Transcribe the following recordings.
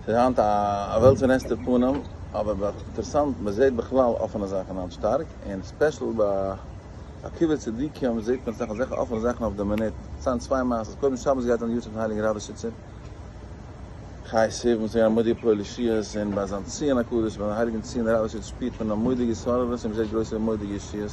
ס'איז היינט א וועלט פון עסטער פנים, אבער ב ה אינטערעסאנט, מען זעט בכלל אפענע זאכן היינט שטארק, און ספעשל ביי עקבתא צדיקים זעט מען אסאך אזעלכע אפענע זאכן אויף די מינוט, כ'ציין צוויי מעשות, קודם שבת גייט אן די יארצייט פון הייליגן ראדאשיצער חי ס וואס איז געווען א מודיע פועל ישועות, און ביי זיין ציון הקדוש ביי זיין הייליגן ציון ראדאשיץ שפירט מען א מודיע ישררות און מען זעט גרויסע מודיע ישועות.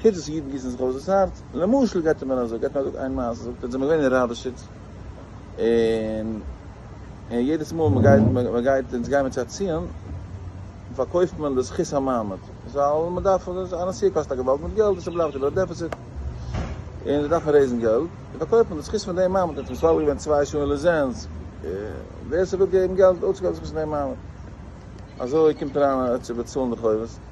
חוץ וואס אידן גיסן זיך אויס דאס הארץ, למשל געבט ער מיר א זאג, געבט מיר א זאג איין מעשה, זאגט ער זעמער געווען אין ראדאשיץ, און און יעדעס מאל מען גייט מען גייט אונז גייען מיר צו א ציון, פארקויפט מען די זכות המעמד, ווייל מען דארף א נסיעה קאסט א געוואלד מיט געלט, און ס'בלייבט איבער א דעפיציט, און זיי דארפן רעיזן געלט, און פארקויפט מען די זכות פון דעם מעמד, אונז פארוואגן געווען צוויי שעה אין ליזענסק, ווער ס'וויל געבן געלט אויסצוקויפן די זכות פון דעם מעמד, אזוי קומט אריין צו באצאלן די חובות.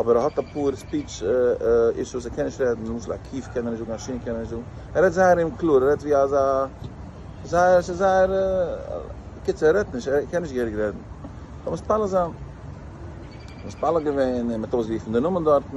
אבער ער האט אפאר ספיטש אישוס, ער קען נישט רעדן, למשל א קוף קען ער נישט זאגן, א שין קען ער נישט זאגן, ער רעדט זייער אומקלאר, ער רעדט ווי אזא, זייער, ס'איז זייער, בקיצור ער רעדט נישט, ער קען נישט געהעריג רעדן, זאל מתפלל זיין, מתפלל געווען און מ'האט אויסגערופן די נאמען דארטן.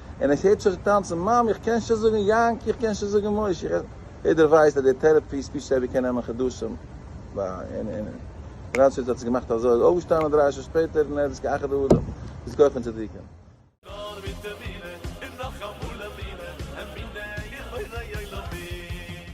און עס הערט זיך טאנצן, מאמי איך קען שוין זאגן יענקי איך קען שוין זאגן משה איך עס, יעדער ווייסט אז די טערעפי ספיטש טערעפי קען נעמען חדשים, ר' איד האט עס געמאכט אזוי, איז אויפגעשטאנען דרײַ שעה שפעטער און ער האט עס כאחד האדם איז כח און צדיקה. נאר מיט אמונה און נאך אמאל אמונה, אמונה יכולה יעלה בי.